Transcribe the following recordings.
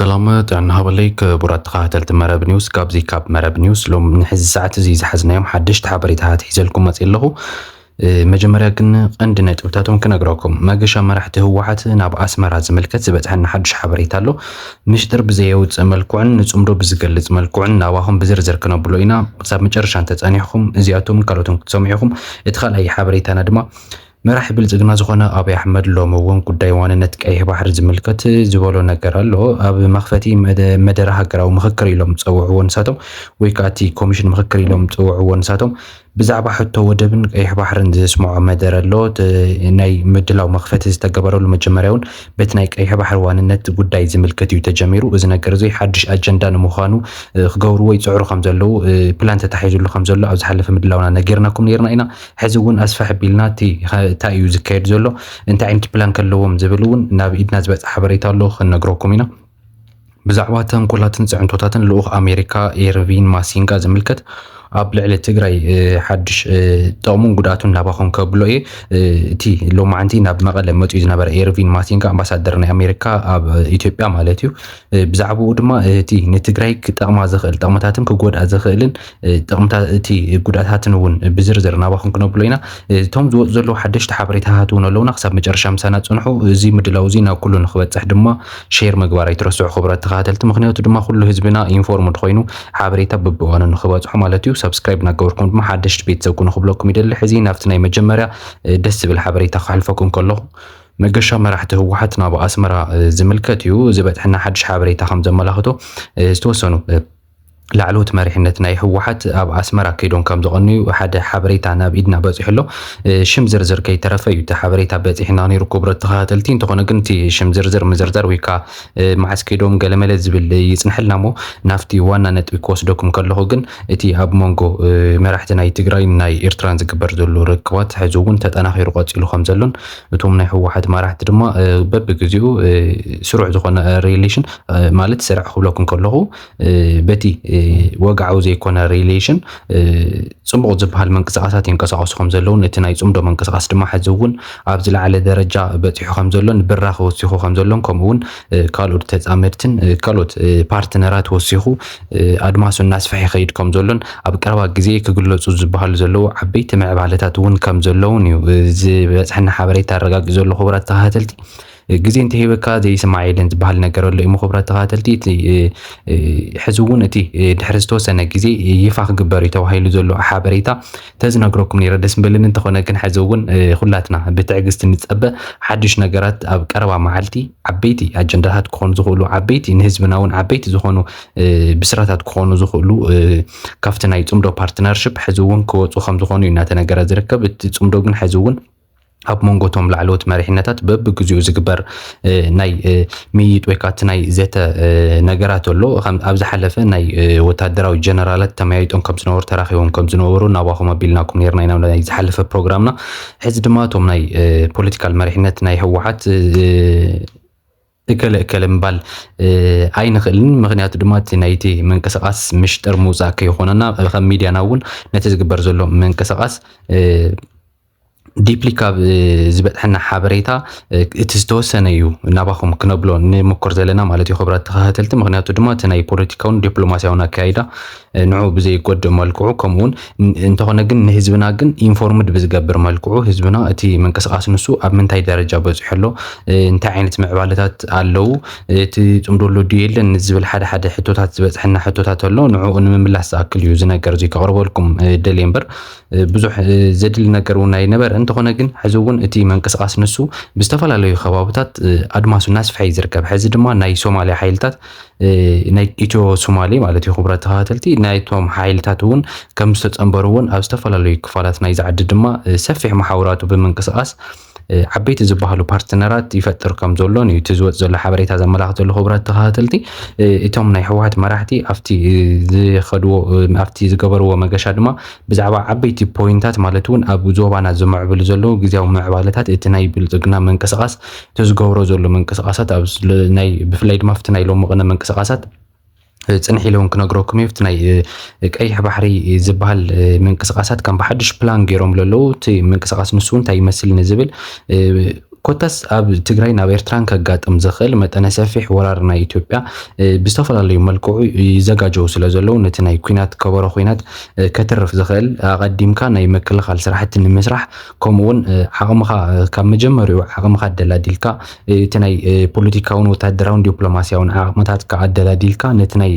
ሰላም ጥዕና ሃበለይ ክቡራት ተኸታተልቲ መረብ ኒውስ ካብዚ ካብ መረብ ኒውስ ሎም ንሕዚ ሰዓት እዚ ዝሓዝናዮም ሓደሽቲ ሓበሬታታት ሒዘልኩም መፅ ኣለኹ መጀመርያ ግን ቀንዲ ነጥብታቶም ክነግረኩም መገሻ መራሕቲ ህወሓት ናብ ኣስመራ ዝምልከት ዝበፅሐና ሓዱሽ ሓበሬታ ኣሎ ምሽጥር ብዘየውጽእ መልክዑን ንጽምዶ ብዝገልጽ መልክዑን ናባኹም ብዝርዝር ክነብሎ ኢና። ክሳብ መጨረሻ እንተጸኒሕኩም እዚኣቶምን ካልኦትን ክትሰምዑ ኢኹም። እቲ ካልኣይ ሓበሬታና ድማ መራሒ ብልጽግና ዝኾነ ኣብይ ኣሕመድ ሎሚ እውን ጉዳይ ዋንነት ቀይሕ ባሕሪ ዝምልከት ዝበሎ ነገር ኣሎ። ኣብ መኽፈቲ መደረ ሃገራዊ ምኽክር ኢሎም ዝጸውዕዎ ንሳቶም ወይ ከኣ እቲ ኮሚሽን ምኽክር ኢሎም ዝጸውዕዎ ንሳቶም ብዛዕባ ሕቶ ወደብን ቀይሕ ባሕርን ዘስምዖ መደረ ኣሎ። እቲ ናይ ምድላው መኽፈቲ ዝተገበረሉ መጀመርያ እውን በቲ ናይ ቀይሕ ባሕሪ ዋንነት ጉዳይ ዝምልከት እዩ ተጀሚሩ። እዚ ነገር እዚ ሓድሽ ኣጀንዳ ንምዃኑ ክገብርዎ ይጽዕሩ ከም ዘለዉ ፕላን ተታሒዙሉ ከም ዘሎ ኣብ ዝሓለፈ ምድላውና ነጊርናኩም ነይርና ኢና። ሕዚ እውን ኣስፍሕ ኣቢልና እቲ እንታይ እዩ ዝካየድ ዘሎ እንታይ ዓይነት ፕላን ከለዎም ዝብል እውን ናብ ኢድና ዝበጽሐ ሓበሬታ ኣሎ ክንነግረኩም ኢና። ብዛዕባ ተንኮላትን ፅዕንቶታትን ልኡኽ ኣሜሪካ ኤርቪን ማሲንጋ ዝምልከት ኣብ ልዕሊ ትግራይ ሓድሽ ጥቕሙን ጉድኣቱን ናባኹም ከብሎ እየ እቲ ሎማዓንቲ ናብ መቐለ መፅኡ ዝነበረ ኤርቪን ማሲንጋ ኣምባሳደር ናይ ኣሜሪካ ኣብ ኢትዮጵያ ማለት እዩ ብዛዕባኡ ድማ እቲ ንትግራይ ክጠቕማ ዝኽእል ጥቕምታትን ክጎድኣ ዝኽእልን ጥቕምታት እቲ ጉድኣታትን እውን ብዝርዝር ናባኹም ክነብሎ ኢና። እቶም ዝወፁ ዘለዉ ሓደሽቲ ሓበሬታታት እውን ኣለውና። ክሳብ መጨረሻ ምሳና ፅንሑ። እዚ ምድላው እዚ ናብ ኩሉ ንክበፅሕ ድማ ሼር ምግባር ኣይትረስዑ ክቡራት ተኸታተልቲ፣ ምክንያቱ ድማ ኩሉ ህዝብና ኢንፎርምድ ኮይኑ ሓበሬታ በብእዋኑ ንክበፅሖ ማለት እዩ። ሳብስክራይብ እናገበርኩም ድማ ሓደሽቲ ቤተሰብ ኩኑ ክብለኩም ይደሊ። ሕዚ ናብቲ ናይ መጀመርያ ደስ ዝብል ሓበሬታ ከሕልፈኩም ከለኹ መገሻ መራሕቲ ህወሓት ናብ ኣስመራ ዝምልከት እዩ። ዝበፅሐና ሓድሽ ሓበሬታ ከም ዘመላኽቶ ዝተወሰኑ ላዕለዎት መሪሕነት ናይ ህወሓት ኣብ ኣስመራ ከይዶም ከም ዝቐንዩ ሓደ ሓበሬታ ናብ ኢድና በጺሑ ኣሎ። ሽም ዝርዝር ከይተረፈ እዩ እቲ ሓበሬታ በጺሕና ነይሩ ክቡረት ተኸታተልቲ። እንተኾነ ግን እቲ ሽም ዝርዝር ምዝርዛር ወይ ከኣ መዓስ ከይዶም ገለመለ ዝብል ይጽንሐልና እሞ ናብቲ ዋና ነጥቢ ክወስደኩም ከለኹ ግን እቲ ኣብ መንጎ መራሕቲ ናይ ትግራይን ናይ ኤርትራን ዝግበር ዘሎ ርክባት ሕዚ እውን ተጠናኺሩ ቀጺሉ ከም ዘሎን እቶም ናይ ህወሓት መራሕቲ ድማ በብግዜኡ ስሩዕ ዝኾነ ሪሌሽን ማለት ስርዕ ክብለኩም ከለኹ በቲ ወግዓዊ ዘይኮነ ሪሌሽን ጽቡቕ ዝበሃል ምንቅስቓሳት ይንቀሳቐሱ ከም ዘለውን እቲ ናይ ጽምዶ ምንቅስቓስ ድማ ሕዚ እውን ኣብ ዝለዓለ ደረጃ በጺሑ ከም ዘሎን ብራኸ ወሲኹ ከም ዘሎን ከምኡ እውን ካልኦት ተጻመድትን ካልኦት ፓርትነራት ወሲኹ ኣድማሱ እናስፍሐ ይኸይድ ከም ዘሎን ኣብ ቀረባ ግዜ ክግለጹ ዝበሃሉ ዘለዉ ዓበይቲ ምዕባለታት እውን ከም ዘለውን እዩ ዝበጽሐና ሓበሬታ ኣረጋጊ ዘሎ ክቡራት ተኸታተልቲ ግዜ እንተሂበካ ዘይስማዕ የለን ዝበሃል ነገር ኣሎ እሞ ክብራት ተኸታተልቲ እቲ ሕዚ እውን እቲ ድሕሪ ዝተወሰነ ግዜ ይፋ ክግበር እዩ ተባሂሉ ዘሎ ሓበሬታ ተዝነግረኩም ነይረ ደስ ምበልን እንተኾነ ግን ሕዚ እውን ኩላትና ብትዕግስቲ ንፀበ ሓድሽ ነገራት ኣብ ቀረባ መዓልቲ ዓበይቲ ኣጀንዳታት ክኾኑ ዝኽእሉ ዓበይቲ ንህዝብና እውን ዓበይቲ ዝኾኑ ብስራታት ክኾኑ ዝኽእሉ ካብቲ ናይ ፅምዶ ፓርትነርሽፕ ሕዚ እውን ክወፁ ከም ዝኾኑ እዩ እናተነገረ ዝርከብ እቲ ፅምዶ ግን ሕዚ እውን ኣብ መንጎ እቶም ላዕለዎት መሪሕነታት በብግዜኡ ዝግበር ናይ ምይይጥ ወይ ከዓ እቲ ናይ ዘተ ነገራት ኣሎ ኣብ ዝሓለፈ ናይ ወታደራዊ ጀነራላት ተመያይጦም ከም ዝነበሩ ተራኺቦም ከም ዝነበሩ ናባኹም ኣቢልናኩም ነርና ኢና ናይ ዝሓለፈ ፕሮግራምና ሕዚ ድማ እቶም ናይ ፖለቲካል መሪሕነት ናይ ህወሓት እከለ እከለ ምባል ኣይንኽእልን ምክንያቱ ድማ እቲ ናይቲ ምንቅስቃስ ምሽጥር ምውፃእ ከይኾነና ከም ሚድያና እውን ነቲ ዝግበር ዘሎ ምንቅስቃስ ዲፕሊ ካብ ዝበፅሐና ሓበሬታ እቲ ዝተወሰነ እዩ ናባኹም ክነብሎ ንምኮር ዘለና ማለት እዩ ክብራት ተኸታተልቲ ምክንያቱ ድማ እቲ ናይ ፖለቲካውን ዲፕሎማሲያውን ኣካይዳ ንዑ ብዘይጎድእ መልክዑ ከምኡውን እንተኾነ ግን ንህዝብና ግን ኢንፎርምድ ብዝገብር መልክዑ ህዝብና እቲ ምንቅስቃስ ንሱ ኣብ ምንታይ ደረጃ በፂሑ ኣሎ እንታይ ዓይነት ምዕባለታት ኣለው እቲ ፅምዶ ኣሎ ድዩ የለን ንዝብል ሓደ ሓደ ሕቶታት ዝበፅሐና ሕቶታት ኣሎ ንዕኡ ንምምላስ ዝኣክል እዩ እዚ ነገር እዚ ከቕርበልኩም ደል እምበር ብዙሕ ዘድሊ ነገር እውን ኣይነበረ እንተኾነ ግን ሕዚ እውን እቲ ምንቅስቃስ ንሱ ብዝተፈላለዩ ከባብታት ኣድማሱ እናስፍሐ እዩ ዝርከብ ሕዚ ድማ ናይ ሶማሊያ ሓይልታት ናይ ኢትዮ ሶማሌ ማለት እዩ ክቡራት ተኸታተልቲ ናይቶም ሓይልታት እውን ከም ዝተፀንበሩ እውን ኣብ ዝተፈላለዩ ክፋላት ናይዚ ዓዲ ድማ ሰፊሕ መሓውራቱ ብምንቅስቓስ ዓበይቲ ዝበሃሉ ፓርትነራት ይፈጥር ከም ዘሎን እዩ እቲ ዝወፅ ዘሎ ሓበሬታ ዘመላኽት ዘሎ ክቡራት ተኸታተልቲ እቶም ናይ ህወሓት መራሕቲ ኣብቲ ዝኸድዎ ኣብቲ ዝገበርዎ መገሻ ድማ ብዛዕባ ዓበይቲ ፖይንታት ማለት እውን ኣብ ዞባና ዝምዕብሉ ዘለዉ ግዜያዊ ምዕባለታት እቲ ናይ ብልፅግና ምንቅስቓስ እቲ ዝገብሮ ዘሎ ምንቅስቓሳት ኣብ ናይ ብፍላይ ድማ ኣብቲ ናይ ሎሚ ቅነ ምንቅስቓሳት ፅንሕ ኢለ እውን ክነግረኩም እዩ እቲ ናይ ቀይሕ ባሕሪ ዝበሃል ምንቅስቓሳት ከም ብሓድሽ ፕላን ገይሮም ዘለዉ እቲ ምንቅስቓስ ንሱ እውን እንታይ ይመስል ንዝብል ኮታስ ኣብ ትግራይ ናብ ኤርትራን ከጋጥም ዝኽእል መጠነ ሰፊሕ ወራር ናይ ኢትዮጵያ ብዝተፈላለዩ መልክዑ ይዘጋጀው ስለ ዘለዉ ነቲ ናይ ኩናት ከበሮ ኩናት ከትርፍ ዝኽእል ኣቐዲምካ ናይ ምክልኻል ስራሕቲ ንምስራሕ ከምኡ ውን ዓቕምኻ ካብ መጀመሪኡ ዓቕምኻ ኣደላዲልካ እቲ ናይ ፖለቲካውን ወታደራውን ዲፕሎማስያውን ዓቕምታትካ ኣደላዲልካ ነቲ ናይ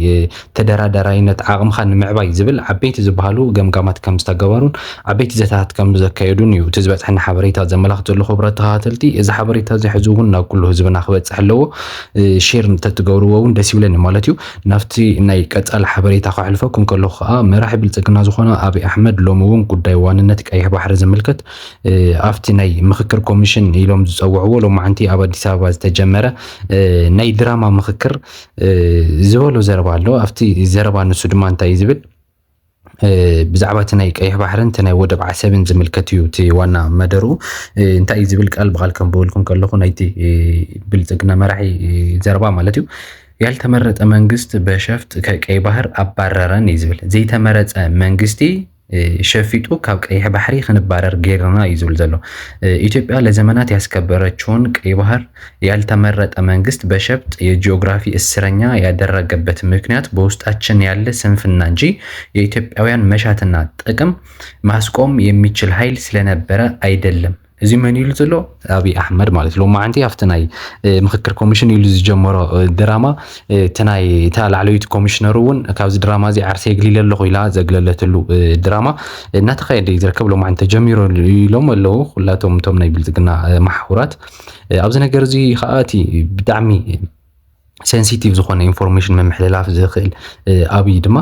ተደራዳራይነት ዓቕምኻ ንምዕባይ ዝብል ዓበይቲ ዝበሃሉ ገምጋማት ከም ዝተገበሩን ዓበይቲ ዘተታት ከም ዘካየዱን እዩ እቲ ዝበፅሐና ሓበሬታ ዘመላኽት ዘሎ ክቡራት ተኸታተልቲ እዚ ሓበሬታ እዚ ሕዚ እውን ናብ ኩሉ ህዝብና ክበፅሕ ኣለዎ ሼር እንተትገብርዎ እውን ደስ ይብለኒ ማለት እዩ ናብቲ ናይ ቀፃሊ ሓበሬታ ከሕልፈኩም ከለኹ ከዓ መራሒ ብልፅግና ዝኾነ ኣብይ ኣሕመድ ሎሚ እውን ጉዳይ ዋንነት ቀይሕ ባሕሪ ዝምልከት ኣብቲ ናይ ምኽክር ኮሚሽን ኢሎም ዝፀውዕዎ ሎማዕንቲ ኣብ ኣዲስ ኣበባ ዝተጀመረ ናይ ድራማ ምኽክር ዝበሎ ዘረባ ኣሎ። ኣብቲ ዘረባ ንሱ ድማ እንታይ እዩ ዝብል ብዛዕባ እቲ ናይ ቀይሕ ባሕርን እቲ ናይ ወደብ ዓሰብን ዝምልከት እዩ እቲ ዋና መደሩ እንታይ እዩ ዝብል ቃል ብቃል ከንብበልኩም ከለኹ ናይቲ ብልፅግና መራሒ ዘረባ ማለት እዩ ያልተመረጠ መንግስት በሸፍጥ ከቀይ ባህር ኣባረረን እዩ ዝብል ዘይተመረፀ መንግስቲ ሸፊጡ ካብ ቀይሕ ባሕሪ ክንባረር ጌርና እዩ ዝብል ዘሎ ኢትዮጵያ ለዘመናት ያስከበረችውን ቀይ ባህር ያልተመረጠ መንግስት በሸፍጥ የጂኦግራፊ እስረኛ ያደረገበት ምክንያት በውስጣችን ያለ ስንፍና እንጂ የኢትዮጵያውያን መሻትና ጥቅም ማስቆም የሚችል ሀይል ስለነበረ ኣይደለም። እዚ መን ኢሉ ዘሎ ኣብይ ኣሕመድ ማለት ሎማዓንቲ ኣብቲ ናይ ምክክር ኮሚሽን ኢሉ ዝጀመሮ ድራማ እቲ ናይ እታ ላዕለዊት ኮሚሽነር እውን ካብዚ ድራማ እዚ ዓርሰ የግሊለ ኣለኹ ኢላ ዘግለለትሉ ድራማ እናተካየደ እዩ ዝርከብ ሎማዓንቲ ተጀሚሩ ኢሎም ኣለዉ ኩላቶም እቶም ናይ ብልፅግና መሓውራት ኣብዚ ነገር እዚ ከዓ እቲ ብጣዕሚ ሴንሲቲቭ ዝኾነ ኢንፎርሜሽን ምምሕልላፍ ዝኽእል ኣብይ ድማ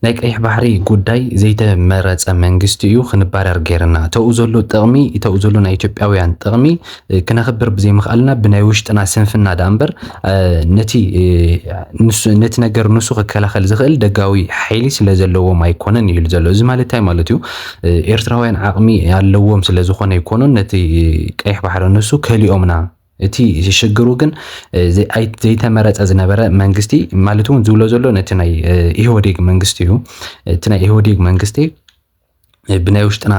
ናይ ቀይሕ ባሕሪ ጉዳይ ዘይተመረፀ መንግስቲ እዩ ክንባረር ገይርና ተኡ ዘሎ ጥቕሚ ተኡ ዘሎ ናይ ኢትዮጵያውያን ጥቕሚ ክነኽብር ብዘይምኽኣልና ብናይ ውሽጥና ስንፍና ዳ እምበር ነቲ ነቲ ነገር ንሱ ክከላኸል ዝኽእል ደጋዊ ሓይሊ ስለ ዘለዎም ኣይኮነን ይብል ዘሎ እዚ ማለት እንታይ ማለት እዩ ኤርትራውያን ዓቕሚ ኣለዎም ስለ ዝኾነ ኣይኮኑን ነቲ ቀይሕ ባሕሪ ንሱ ከሊኦምና እቲ ሽግሩ ግን ዘይተመረፀ ዝነበረ መንግስቲ ማለት እውን ዝብሎ ዘሎ ነቲ ናይ ኢህወዴግ መንግስቲ እዩ እቲ ናይ ኢህወዴግ መንግስቲ ብናይ ውሽጥና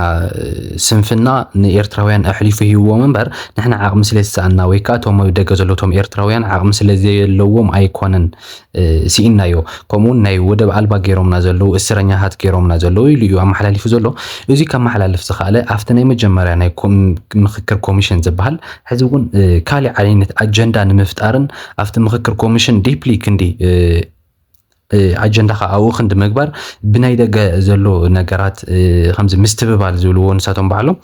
ስንፍና ንኤርትራውያን ኣሕሊፉ ሂዎም እምበር ንሕና ዓቕሚ ስለ ዝሰኣና ወይ ከዓ እቶም ደገ ዘለቶም ኤርትራውያን ዓቕሚ ስለ ዘየለዎም ኣይኮነን ስኢንናዮ ከምኡ ውን ናይ ወደብ ኣልባ ገይሮምና ዘለዉ እስረኛታት ገይሮምና ዘለዉ ኢሉ እዩ ኣመሓላሊፉ ዘሎ። እዙይ ከመሓላልፍ ዝኸኣለ ኣብቲ ናይ መጀመርያ ናይ ምኽክር ኮሚሽን ዝበሃል ሕዚ ውን ካሊእ ዓይነት ኣጀንዳ ንምፍጣርን ኣብቲ ምኽክር ኮሚሽን ዲፕሊ ክንዲ ኣጀንዳኻ ኣብኡ ክንዲ ምግባር ብናይ ደገ ዘሎ ነገራት ከምዚ ምስትብባል ዝብልዎ ንሳቶም ባዕሎም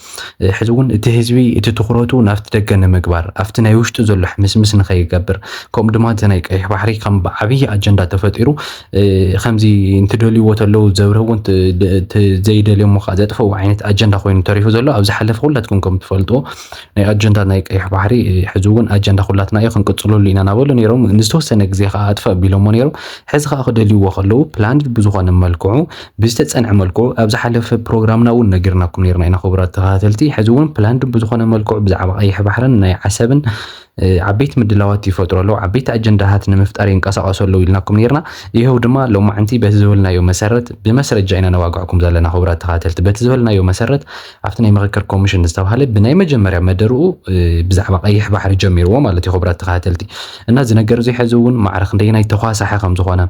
ሕዚ እውን እቲ ህዝቢ እቲ ትኹረቱ ናብቲ ደገ ንምግባር ኣብቲ ናይ ውሽጡ ዘሎ ሕምስምስ ንኸይገብር ከምኡ ድማ እቲ ናይ ቀይሕ ባሕሪ ከም ብዓብዪ ኣጀንዳ ተፈጢሩ ከምዚ እንትደልይዎ ተለዉ ዘብርህዎ ዘይደልዮሞ ከዓ ዘጥፈው ዓይነት ኣጀንዳ ኮይኑ ተሪፉ ዘሎ ኣብ ዝሓለፈ ኩላትኩም ከም ትፈልጥዎ ናይ ኣጀንዳ ናይ ቀይሕ ባሕሪ ሕዚ እውን ኣጀንዳ ኩላትና እዩ ክንቅፅለሉ ኢና ናበሉ ነይሮም ንዝተወሰነ ግዜ ከዓ ኣጥፈ ኣቢሎሞ ነይሮም ሕዚ ከዓ ክደልይዎ ከለዉ ፕላንድ ብዝኾነ መልክዑ ብዝተጸንዐ መልክዑ ኣብ ዝሓለፈ ፕሮግራምና እውን ነጊርናኩም ነርና ኢና ክቡራት ተኸታተልቲ ሕዚ እውን ፕላንድ ብዝኾነ መልክዑ ብዛዕባ ቀይሕ ባሕርን ናይ ዓሰብን ዓበይቲ ምድላዋት ይፈጥሩ ኣለዉ ዓበይቲ ኣጀንዳታት ንምፍጣር ይንቀሳቀሱ ኣለዉ ኢልናኩም ነርና ይኸው ድማ ሎማዕንቲ በቲ ዝበልናዮ መሰረት ብመስረጃ ኢና ነዋግዕኩም ዘለና ክቡራት ተኸታተልቲ በቲ ዝበልናዮ መሰረት ኣብቲ ናይ ምክክር ኮሚሽን ዝተባሃለ ብናይ መጀመርያ መደርኡ ብዛዕባ ቀይሕ ባሕሪ ጀሚርዎ ማለት እዩ ክቡራት ተኸታተልቲ እና እዚ ነገር እዚ ሕዚ እውን ማዕረ ክንደየናይ ተኳሳሐ ከም ዝኾነ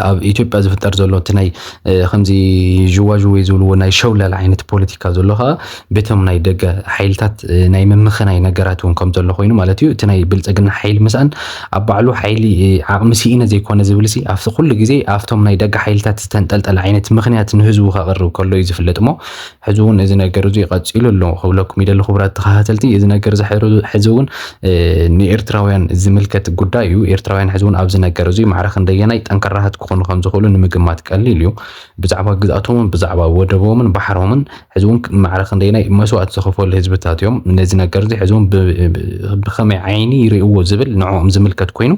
ኣብ ኢትዮጵያ ዝፍጠር ዘሎ እቲ ናይ ከምዚ ዥዋዥዌ ዝብልዎ ናይ ሸውለል ዓይነት ፖለቲካ ዘሎ ከዓ ቤቶም ናይ ደገ ሓይልታት ናይ ምምኽናይ ነገራት እውን ከም ዘሎ ኮይኑ ማለት እዩ እቲ ናይ ብልፅግና ሓይሊ ምስኣን ኣብ ባዕሉ ሓይሊ ዓቕሚ ስኢነ ዘይኮነ ዝብልሲ ኣብቲ ኩሉ ግዜ ኣብቶም ናይ ደገ ሓይልታት ዝተንጠልጠለ ዓይነት ምክንያት ንህዝቡ ከቕርብ ከሎ እዩ ዝፍለጥ እሞ ሕዚ እውን እዚ ነገር እዙይ ቀፂሉ ኣሎ ክብለኩም ይደሊ ክቡራት ተኸታተልቲ እዚ ነገር እዚ ሕዚ እውን ንኤርትራውያን ዝምልከት ጉዳይ እዩ ኤርትራውያን ሕዚ እውን ኣብዚ ነገር እዙይ ማዕረ ክንደየናይ ጠንካራሃት ክኾኑ ከም ዝኽእሉ ንምግማት ቀሊል እዩ ብዛዕባ ግዝኣቶምን ብዛዕባ ወደቦምን ባሕሮምን ሕዚ እውን ማዕረ ክንደየናይ መስዋእቲ ዝኸፈሉ ህዝብታት እዮም ነዚ ነገር እዚ ሕዚ እውን ብኸመይ ዓይኒ ይርእዎ ዝብል ንዕኦም ዝምልከት ኮይኑ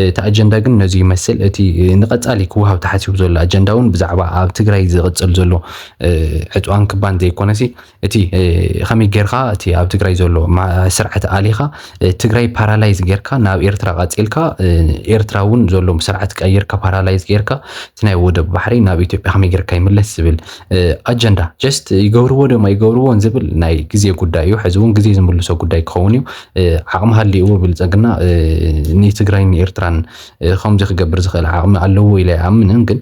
እቲ ኣጀንዳ ግን ነዚ ይመስል እቲ ንቐፃሊ ክወሃብ ተሓሲቡ ዘሎ ኣጀንዳ እውን ብዛዕባ ኣብ ትግራይ ዝቕፅል ዘሎ ዕፅዋን ክባን ዘይኮነሲ እቲ ከመይ ጌርካ እቲ ኣብ ትግራይ ዘሎ ስርዓት ኣሊኻ ትግራይ ፓራላይዝ ጌርካ ናብ ኤርትራ ቀፂልካ ኤርትራ እውን ዘሎ ስርዓት ቀይርካ ፓራላይዝ ጌርካ እቲ ናይ ወደብ ባሕሪ ናብ ኢትዮጵያ ከመይ ጌርካ ይምለስ ዝብል ኣጀንዳ ጀስት ይገብርዎ ደማ ይገብርዎን ዝብል ናይ ግዜ ጉዳይ እዩ። ሕዚ እውን ግዜ ዝምልሶ ጉዳይ ክኸውን እዩ። ዓቕሚ ሃልይዎ ብልፅግና ንትግራይን ንኤርትራን ከምዚ ክገብር ዝኽእል ዓቕሚ ኣለዎ ኢለ ኣይኣምንን ግን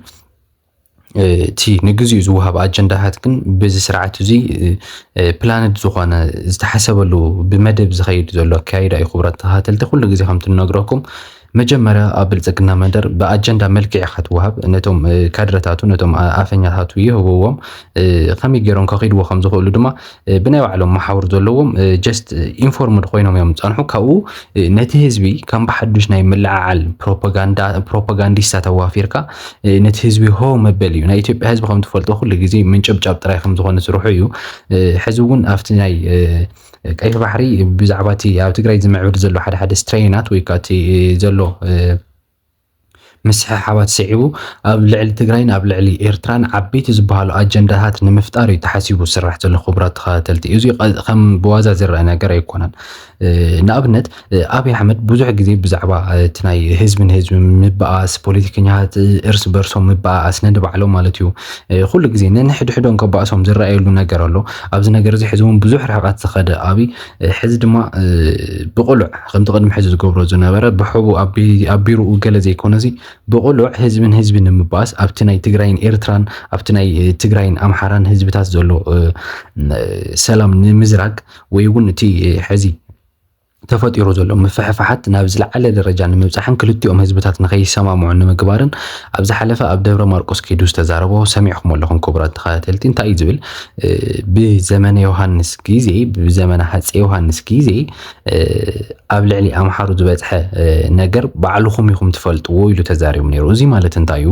እቲ ንግዚኡ ዝወሃብ ኣጀንዳታት ግን በዚ ስርዓት እዚ ፕላንድ ዝኾነ ዝተሓሰበሉ ብመደብ ዝኸይድ ዘሎ ኣካይዳ እዩ። ክቡራት ተኸታተልቲ ኩሉ ግዜ ከምቲ ንነግረኩም መጀመርያ ኣብ ብልፅግና መንደር ብኣጀንዳ መልክዕ ኢኻ ትወሃብ ነቶም ካድረታቱ ነቶም ኣፈኛታቱ ይህብዎም ከመይ ገይሮም ከኺድዎ ከም ዝኽእሉ ድማ ብናይ ባዕሎም መሓውር ዘለዎም ጀስት ኢንፎርምድ ኮይኖም እዮም ዝፀንሑ ካብኡ ነቲ ህዝቢ ከም ብሓዱሽ ናይ ምልዓዓል ፕሮፓጋንዲስታ ተዋፊርካ ነቲ ህዝቢ ሆ መበል እዩ ናይ ኢትዮጵያ ህዝቢ ከም ትፈልጦ ኩሉ ግዜ ምንጭብጫብ ጥራይ ከም ዝኾነ ስርሑ እዩ ሕዚ እውን ኣብቲ ናይ ቀይሕ ባሕሪ ብዛዕባ እቲ ኣብ ትግራይ ዝምዕብል ዘሎ ሓደ ሓደ ስትሬናት ወይ ከዓ እቲ ዘሎ ምስሕሓባት ስዒቡ ኣብ ልዕሊ ትግራይን ኣብ ልዕሊ ኤርትራን ዓበይቲ ዝበሃሉ ኣጀንዳታት ንምፍጣር እዩ ተሓሲቡ ዝስራሕ ዘሎ ክቡራት ተኸታተልቲ እዚ ከም ብዋዛ ዝረአ ነገር ኣይኮነን ንኣብነት ኣብይ ኣሕመድ ብዙሕ ግዜ ብዛዕባ እቲ ናይ ህዝቢ ንህዝቢ ምበኣስ ፖለቲከኛታት እርስ በርሶም ምበኣስ ነንባዕሎም ማለት እዩ ኩሉ ግዜ ነንሕድሕዶም ከባእሶም ዝረኣየሉ ነገር ኣሎ ኣብዚ ነገር እዚ ሕዚ እውን ብዙሕ ርሕቐት ዝኸደ ኣብይ ሕዚ ድማ ብቕሉዕ ከምቲ ቅድሚ ሕዚ ዝገብሮ ዝነበረ ብሕቡ ኣብ ቢሮኡ ገለ ዘይኮነ እዚ ብቕሉዕ ህዝብን ህዝቢ ንምባኣስ ኣብቲ ናይ ትግራይን ኤርትራን ኣብቲ ናይ ትግራይን ኣምሓራን ህዝብታት ዘሎ ሰላም ንምዝራግ ወይ እውን እቲ ሕዚ ተፈጢሩ ዘሎ ምፍሕፋሓት ናብ ዝለዓለ ደረጃ ንምብፃሕን ክልቲኦም ህዝብታት ንከይሰማምዑ ንምግባርን ኣብ ዝሓለፈ ኣብ ደብረ ማርቆስ ከይዱ ዝተዛረቦ ሰሚዕኹም ኣለኹም ክቡራት ተኸታተልቲ እንታይ እዩ ዝብል ብዘመነ ዮሃንስ ግዜ ብዘመነ ሃፀ ዮሃንስ ግዜ ኣብ ልዕሊ ኣምሓሩ ዝበፅሐ ነገር ባዕልኹም ኢኹም ትፈልጥዎ ኢሉ ተዛሪቡ ነይሩ። እዚ ማለት እንታይ እዩ?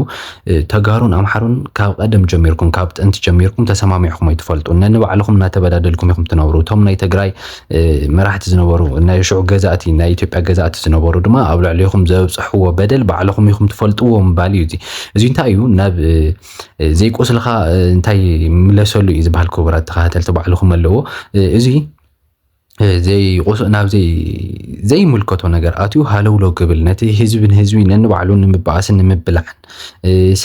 ተጋሩን ኣምሓሩን ካብ ቀደም ጀሚርኩም ካብ ጥንቲ ጀሚርኩም ተሰማሚዕኹም ኣይትፈልጡን። ነንባዕልኹም እናተበዳደልኩም ኢኹም ትነብሩ። እቶም ናይ ትግራይ መራሕቲ ዝነበሩ ናይ ሽዑ ገዛእቲ ናይ ኢትዮጵያ ገዛእቲ ዝነበሩ ድማ ኣብ ልዕሊኹም ዘብፅሕዎ በደል ባዕልኹም ኢኹም ትፈልጥዎ ምባል እዩ እዚ። እዚ እንታይ እዩ ናብ ዘይቁስልኻ እንታይ ምለሰሉ እዩ ዝበሃል ክቡራት ተኸታተልቲ ባዕልኹም ኣለዎ እዚ ናብ ዘይምልከቶ ነገር ኣትዩ ሃለውሎ ክብል ነቲ ህዝቢ ንህዝቢ ነንባዕሉ ንምበኣስን ንምብላዕን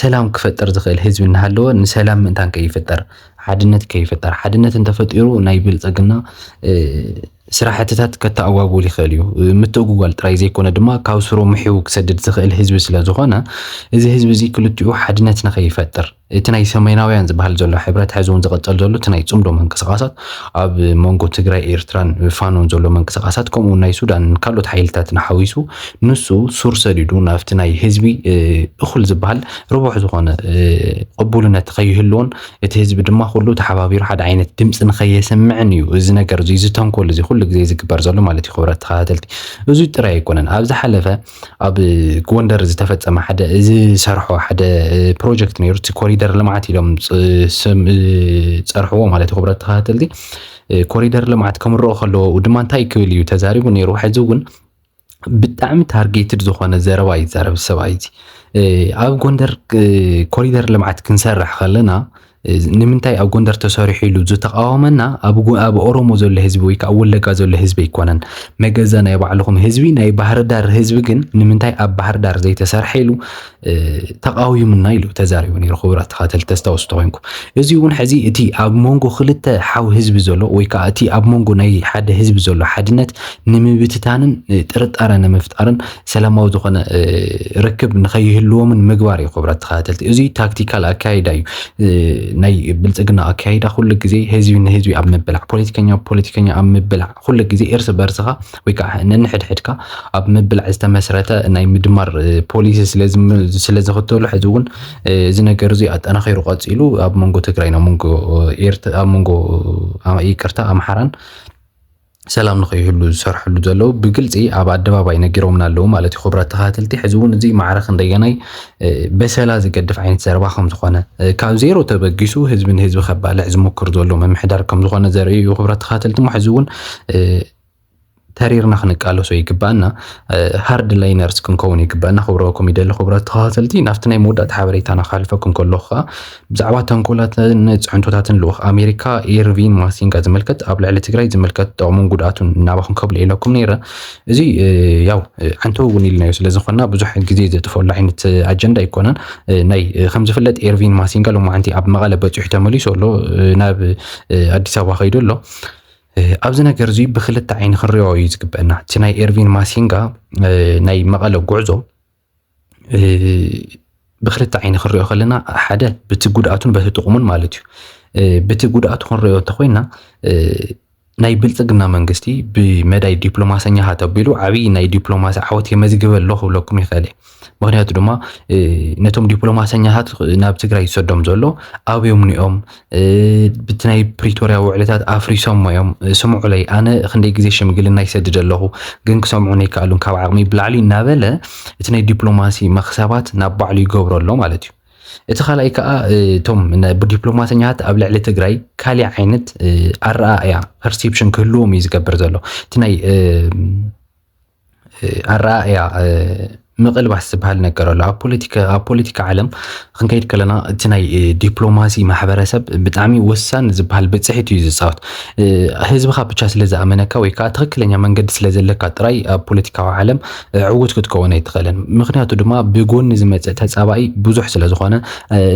ሰላም ክፈጥር ዝኽእል ህዝቢ እናሃለወ ንሰላም ምእንታን ከይፍጠር ሓድነት ከይፍጠር፣ ሓድነት እንተፈጢሩ ናይ ብልፀግና ስራሕትታት ከተኣጓጉል ይኽእል እዩ። ምትእጉጓል ጥራይ ዘይኮነ ድማ ካብ ስሩ ምሒው ክሰድድ ዝኽእል ህዝቢ ስለ ዝኾነ እዚ ህዝቢ እዚ ክልቲኡ ሓድነት ንኸይፈጥር እቲ ናይ ሰሜናውያን ዝበሃል ዘሎ ሕብረት ሕዚ እውን ዝቐፀል ዘሎ እቲ ናይ ፅምዶ ምንቅስቓሳት ኣብ መንጎ ትግራይ ኤርትራን ፋኖን ዘሎ ምንቅስቓሳት ከምኡ እውን ናይ ሱዳንን ካልኦት ሓይልታትን ሓዊሱ ንሱ ሱር ሰዲዱ ናብቲ ናይ ህዝቢ እኹል ዝበሃል ርቡሕ ዝኾነ ቅቡልነት ከይህልዎን እቲ ህዝቢ ድማ ኩሉ ተሓባቢሩ ሓደ ዓይነት ድምፂ ንከየስምዕን እዩ እዚ ነገር እዚ እዚ ተንኮል እዚ ኩሉ ግዜ ዝግበር ዘሎ ማለት እዩ ክብረት ተኸታተልቲ እዚ ጥራይ ኣይኮነን ኣብ ዝሓለፈ ኣብ ጎንደር ዝተፈፀመ ሓደ እዚ ሰርሖ ሓደ ፕሮጀክት ነይሩ እቲ ኮሪደር ልምዓት ኢሎም ፀርሕዎ ማለት እዩ ክብረት ተኸታተልቲ ኮሪደር ልምዓት ከምርኦ ከለዎ ድማ እንታይ ክብል እዩ ተዛሪቡ ነይሩ ሕዚ እውን ብጣዕሚ ታርጌትድ ዝኾነ ዘረባ እዩ ዛረብ ሰብኣይ እዚ ኣብ ጎንደር ኮሪደር ልምዓት ክንሰርሕ ከለና ንምንታይ ኣብ ጎንደር ተሰሪሑ ኢሉ ዝተቃወመና ኣብ ኦሮሞ ዘሎ ህዝቢ ወይ ከዓ ወለጋ ዘሎ ህዝቢ ኣይኮነን መገዛ ናይ ባዕልኹም ህዝቢ ናይ ባህርዳር ህዝቢ ግን ንምንታይ ኣብ ባህርዳር ዘይተሰርሐ ኢሉ ተቃዊሙና ኢሉ ተዛሪቡ ነይሩ። ክቡራት ተኸታተልቲ ተስታውሱ ተኮይንኩም እዚ እውን ሕዚ እቲ ኣብ መንጎ ክልተ ሓው ህዝቢ ዘሎ ወይ ከዓ እቲ ኣብ መንጎ ናይ ሓደ ህዝቢ ዘሎ ሓድነት ንምብትታንን ጥርጣረ ንምፍጣርን ሰላማዊ ዝኾነ ርክብ ንከይህልዎምን ምግባር እዩ። ክቡራት ተኸታተልቲ እዚ ታክቲካል ኣካይዳ እዩ። ናይ ብልፅግና ኣካይዳ ኩሉ ግዜ ህዝቢ ንህዝቢ ኣብ ምብላዕ፣ ፖለቲከኛ ፖለቲከኛ ኣብ ምብላዕ ኩሉ ግዜ እርስ በርስኻ ወይ ከዓ ነንሕድሕድካ ኣብ ምብላዕ ዝተመስረተ ናይ ምድማር ፖሊሲ ስለ ዝኽተሉ ሕዚ እውን እዚ ነገር እዚ ኣጠናኺሩ ቀፂሉ ኣብ መንጎ ትግራይን ኣብ መንጎ ኣብ መንጎ ይቅርታ ኣምሓራን ሰላም ንኸይህሉ ዝሰርሕሉ ዘለዉ ብግልፂ ኣብ ኣደባባይ ነጊሮምና ኣለዉ ማለት እዩ። ክብረት ተኸታተልቲ ሕዚ እውን እዚ ማዕረ ክንደየናይ በሰላ ዝገድፍ ዓይነት ዘረባ ከምዝኾነ ካብ ዜሮ ተበጊሱ ህዝቢ ንህዝቢ ከባልዕ ዝሞክር ዘሎ ምምሕዳር ከምዝኾነ ዘርኢ እዩ። ክብረት ተኻተልቲ ሕዚ እውን ተሪርና ክንቃለሶ ይግባኣና ሃርድ ላይነርስ ክንከውን ይግባኣና ክብረኩም ይደሊ ክብረት ተኸታተልቲ ናብቲ ናይ መወዳእታ ሓበሬታና ክሓልፈኩም ከለኹ ከዓ ብዛዕባ ተንኮላትን ፅዕንቶታትን ልኡኽ ኣሜሪካ ኤርቪን ማሲንጋ ዝምልከት ኣብ ልዕሊ ትግራይ ዝምልከት ጥቕሙን ጉድኣቱን ናባኹም ከብልኤለኩም ነይረ። እዚ ያው ዓንተው እውን ኢልናዮ ስለ ዝኾንና ብዙሕ ግዜ ዘጥፈሉ ዓይነት ኣጀንዳ ኣይኮነን። ናይ ከም ዝፍለጥ ኤርቪን ማሲንጋ ሎማዓንቲ ኣብ መቐለ በፂሑ ተመሊሱ ኣሎ፣ ናብ ኣዲስ ኣበባ ከይዱ ኣሎ። ኣብዚ ነገር እዚ ብክልተ ዓይኒ ክንሪኦ እዩ ዝግበአና። እቲ ናይ ኤርቪን ማሲንጋ ናይ መቐለ ጉዕዞ ብክልተ ዓይኒ ክንሪኦ ከለና ሓደ በቲ ጉድኣቱን በቲ ጥቕሙን ማለት እዩ በቲ ጉድኣቱ ክንሪኦ እንተኮይና ናይ ብልፅግና መንግስቲ ብመዳይ ዲፕሎማሰኛ ተቢሉ ዓብይ ናይ ዲፕሎማሲ ዓወት የመዝግበ ኣሎ ክብለኩም ይኽእል እየ ምክንያቱ ድማ ነቶም ዲፕሎማሰኛታት ናብ ትግራይ ዝሰዶም ዘሎ ኣብዮም ኒኦም ብቲ ናይ ፕሪቶርያ ውዕልታት ኣፍሪሶሞ እዮም ስምዑለይ ኣነ ክንደይ ግዜ ሽምግልና ይሰድድ ኣለኹ ግን ክሰምዑን ኣይከኣሉን ካብ ዓቕሚ ብላዕሊ እናበለ እቲ ናይ ዲፕሎማሲ መክሰባት ናብ ባዕሉ ይገብሮ ኣሎ ማለት እዩ እቲ ካልኣይ ከዓ እቶም ዲፕሎማሰኛታት ኣብ ልዕሊ ትግራይ ካሊእ ዓይነት ኣረኣእያ ፐርሴፕሽን ክህልዎም እዩ ዝገብር ዘሎ እቲ ናይ ኣረኣእያ ምቕልባስ ዝበሃል ነገር ኣሎ ኣብ ፖለቲካ ኣብ ፖለቲካ ዓለም ክንከይድ ከለና እቲ ናይ ዲፕሎማሲ ማሕበረሰብ ብጣዕሚ ወሳኒ ዝበሃል ብፅሒት እዩ ዝፃወት ህዝብኻ ብቻ ስለ ዝኣመነካ ወይ ከዓ ትክክለኛ መንገዲ ስለ ዘለካ ጥራይ ኣብ ፖለቲካዊ ዓለም ዕውት ክትከውን ኣይትኽእልን ምክንያቱ ድማ ብጎኒ ዝመፅእ ተፃባኢ ብዙሕ ስለ ዝኾነ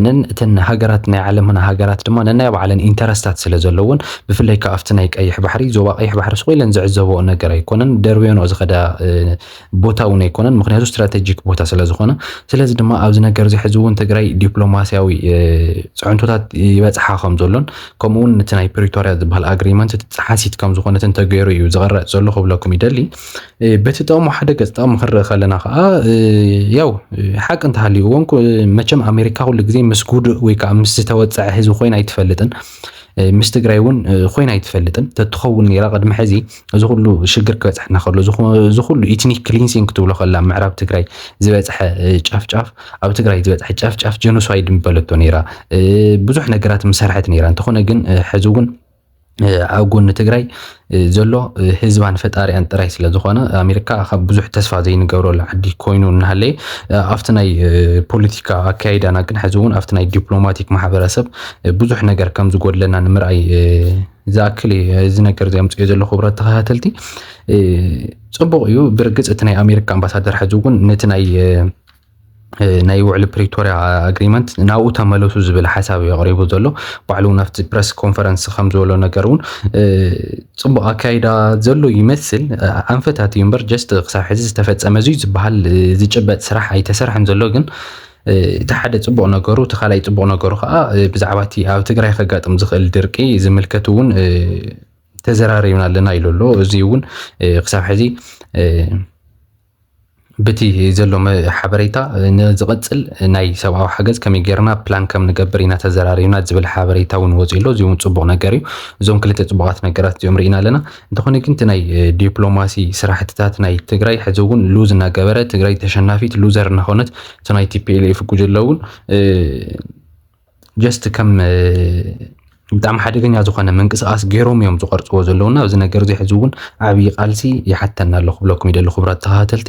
ነን እተን ሃገራት ናይ ዓለምና ሃገራት ድማ ነናይ ባዕለን ኢንተረስታት ስለ ዘለውን ብፍላይ ከኣ ኣብቲ ናይ ቀይሕ ባሕሪ ዞባ ቀይሕ ባሕሪ ስቕ ኢለን ዝዕዘበኦ ነገር ኣይኮነን ደርብዮንኦ ዝኸዳ ቦታ እውን ኣይኮነን ምክንያቱ ስትራቴጂክ ቦታ ስለ ዝኾነ ስለዚ ድማ ኣብዚ ነገር እዚ ሕዚ እውን ትግራይ ዲፕሎማስያዊ ፅዕንቶታት ይበፅሓ ከም ዘሎን ከምኡውን እቲ ናይ ፕሪቶርያ ዝበሃል ኣግሪመንት እቲ ፀሓሲት ከም ዝኾነትን ተገይሩ እዩ ዝቐረፅ ዘሎ ክብለኩም ይደሊ በቲ ጥቕሙ ሓደ ገፅ ጥቕሚ ክንርኢ ከለና ከዓ ያው ሓቂ እንተሃልዩ እውን መቸም ኣሜሪካ ኩሉ ግዜ ምስ ጉዱእ ወይ ከዓ ምስ ዝተወፀዐ ህዝቢ ኮይና ኣይትፈልጥን ምስ ትግራይ እውን ኮይና ኣይትፈልጥን ተትኸውን ነራ ቅድሚ ሕዚ እዚ ኩሉ ሽግር ክበፅሐና ከሎ እዚ ኩሉ ኢትኒክ ክሊንሲንግ ክትብሎ ከላ ምዕራብ ትግራይ ዝበፅሐ ጨፍጫፍ ኣብ ትግራይ ዝበፅሐ ጨፍጫፍ ጀኖሳይድ ምበለቶ ነራ ብዙሕ ነገራት ምሰርሐት ነራ እንተኾነ ግን ሕዚ እውን ኣብ ጎኒ ትግራይ ዘሎ ህዝባን ፈጣሪኣን ጥራይ ስለ ዝኾነ ኣሜሪካ ካብ ብዙሕ ተስፋ ዘይንገብረሉ ዓዲ ኮይኑ እናሃለየ ኣብቲ ናይ ፖለቲካ ኣካይዳና ግን ሕዚ እውን ኣብቲ ናይ ዲፕሎማቲክ ማሕበረሰብ ብዙሕ ነገር ከም ዝጎድለና ንምርኣይ ዝኣክል እዚ ነገር እዚ ኣምፅኦ ዘሎ ክብረት ተኸታተልቲ ፅቡቕ እዩ ብርግፅ እቲ ናይ ኣሜሪካ ኣምባሳደር ሕዚ እውን ነቲ ናይ ናይ ውዕሊ ፕሪቶርያ ኣግሪመንት ናብኡ ተመለሱ ዝብል ሓሳብ እዩ ኣቕሪቡ ዘሎ ባዕሉ እውን ኣብቲ ፕረስ ኮንፈረንስ ከም ዝበሎ ነገር እውን ፅቡቕ ኣካይዳ ዘሎ ይመስል ኣንፈታት እዩ እምበር ጀስት ክሳብ ሕዚ ዝተፈፀመ እዙ ዝበሃል ዝጭበጥ ስራሕ ኣይተሰርሐን ዘሎ ግን እቲ ሓደ ፅቡቕ ነገሩ እቲ ካልኣይ ፅቡቕ ነገሩ ከዓ ብዛዕባ እቲ ኣብ ትግራይ ከጋጥም ዝኽእል ድርቂ ዝምልከት እውን ተዘራሪብና ኣለና ኢሉ ኣሎ እዚ እውን ክሳብ ሕዚ ብቲ ዘሎ ሓበሬታ ንዝቐፅል ናይ ሰብኣዊ ሓገዝ ከመይ ጌርና ፕላን ከም ንገብር ኢና ተዘራሪብና ዝብል ሓበሬታ እውን ወፂኡ ኣሎ። እዚ እውን ፅቡቕ ነገር እዩ። እዞም ክልተ ፅቡቓት ነገራት እዚኦም ርኢና ኣለና። እንተኾነ ግን እቲ ናይ ዲፕሎማሲ ስራሕትታት ናይ ትግራይ ሕዚ እውን ሉዝ እናገበረ ትግራይ ተሸናፊት ሉዘር እናኾነት እቲ ናይ ቲፒኤልኤፍ ጉጅለ እውን ጀስት ከም ብጣዕሚ ሓደገኛ ዝኾነ ምንቅስቓስ ገይሮም እዮም ዝቐርፅዎ ዘለዉ እና እዚ ነገር እዚ ሕዚ እውን ዓብዪ ቃልሲ ይሓተና ኣሎ ክብለኩም ይደሊ ክቡራት ተኸታተልቲ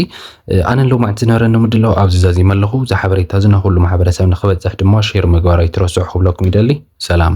ኣነ ሎማዕንቲ ዝነበረኒ ምድላው ኣብዚ ዛዚመ ኣለኹ እዚ ሓበሬታ እዚ ንኩሉ ማሕበረሰብ ንክበፅሕ ድማ ሼር ምግባር ኣይትረስዑ ክብለኩም ይደሊ ሰላም